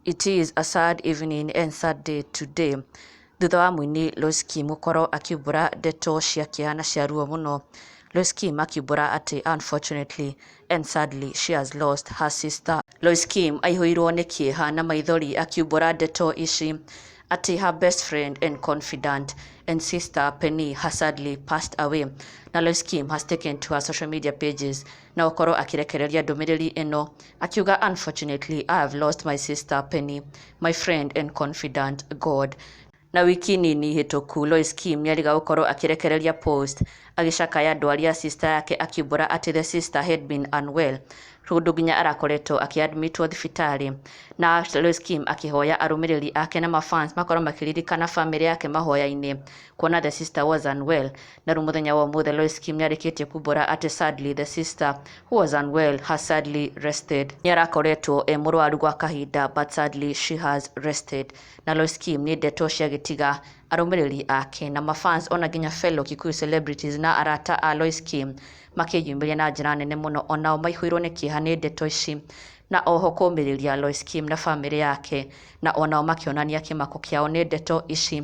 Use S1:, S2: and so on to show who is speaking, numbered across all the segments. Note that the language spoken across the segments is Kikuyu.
S1: It is a sad evening and sad day today thutha wa mũini Loice Kim gũkorwo akiumbũra ndeto cia kĩeha na cia ruo mũno. Loice Kim akiumbũra atĩ unfortunately and sadly she has lost her sister. Loice Kim aihũirwo nĩ kĩeha na maithori akiumbũra ndeto ici atĩ her best friend and confidant and sister Penny has sadly passed away. Na Loice Kim has taken to her social media pages na gũkorwo akĩrekereria ndũmĩrĩri ĩno akiuga unfortunately I have lost my sister Penny my friend and confidant God na wiki nini hĩtũku Lois Kim nĩariga gũkorwo akĩrekereria post agĩcakaya ndwari ya sister yake akiumbũra atĩ the sister had been unwell kũndũ nginya arakoretwo akĩadmitwo thibitarĩ na Lois Kim akĩhoya arũmĩrĩri ake na mafans makorwo makĩririkana famĩlĩ yake mahoya-inĩ kuona the sister was unwell na rĩu mũthenya wa ũmũthĩ Lois Kim nĩarĩkĩtie kumbũra atĩ sadly the sister who was unwell has sadly rested nĩarakoretwo e mũrwaru gwa kahinda but sadly she has rested na Lois Kim nĩ ndeto cia gĩtiga arũmĩrĩri ake na mafans ona nginya fellow Kikuyu celebrities na arata a Lois Kim makĩyumĩria na njĩra nene mũno onao maihũirwo nĩ kĩeha nĩ ndeto ici na oho kũmĩrĩria Lois Kim na famĩlĩ yake na onao makĩonania kĩmako kĩao nĩ ndeto ici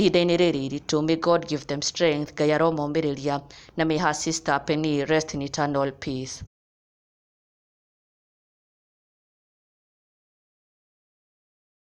S1: ihinda-inĩ rĩrĩ iritũ may God give them strength Ngai aromomĩrĩria na may her sister Penny rest in eternal peace.